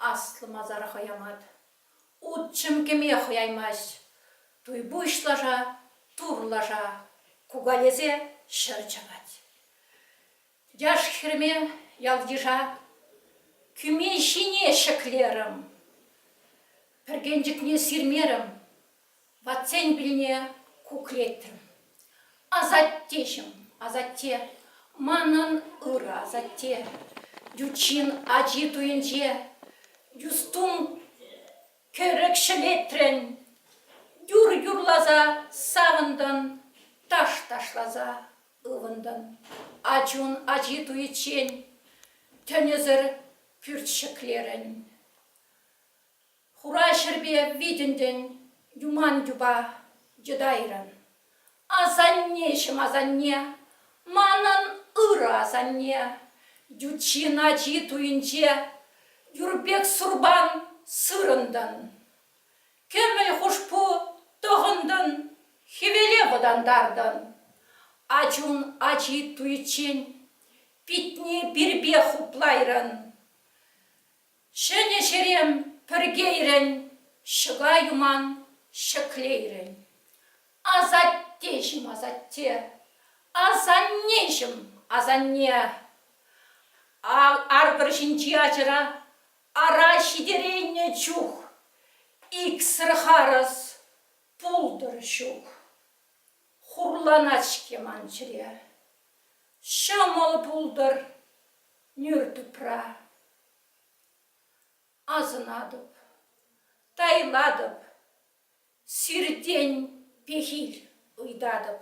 Аслӑ масара хӑямат. Утҫӑм кӗме хӑяймасть. Туйпуҫ лаша, тур лаша, кукалесе ҫӗр чапать. Яш-хӗрме ял-йыша кӳме ҫине ҫӗклерӗм. Пӗркенчӗкне сирмерӗм, ватсен пилне кукреттӗм. Асаттеҫӗм, асатте, манӑн ырӑ асатте, ют ачи туйӗнче юстум кӗрӗк ҫӗлетрӗн, юр юрласа савӑнтӑн, таш ташласа Ывӑнтӑм. Ачун ачи туйиччен тӗнӗсӗр пӳрт ҫӗклерӗн. Хура ҫӗрпе витӗнтӗн юман юпа йӑтайрӑн. Асаннеҫӗм асанне, манӑн ырӑ асанне, ютҫын ачи туйӗнче юр пек сурпан сырӑнтӑн. Кӗмӗл хушпу тӑхӑнтӑн, хӗвеле вӑтантартӑн. Ачун ачи туйччен питне пирпе хуплайрӑн. Ҫӗнӗ ҫерем пӗркейрӗн, ҫӑка юман ҫӗклейрӗн. Асаттеҫӗм асатте, асаннеҫӗм асанне, Ар пӗр ҫинчи ачӑра Ара, ҫитерейнӗ чух иксӗр харӑс пултӑр ҫук. Хурланать-ҫке ман чӗре. Ҫӑмӑл пултӑр нӳр тупра. Асӑнатӑп, тайлатӑп, сиртен пехил ыйтатӑп.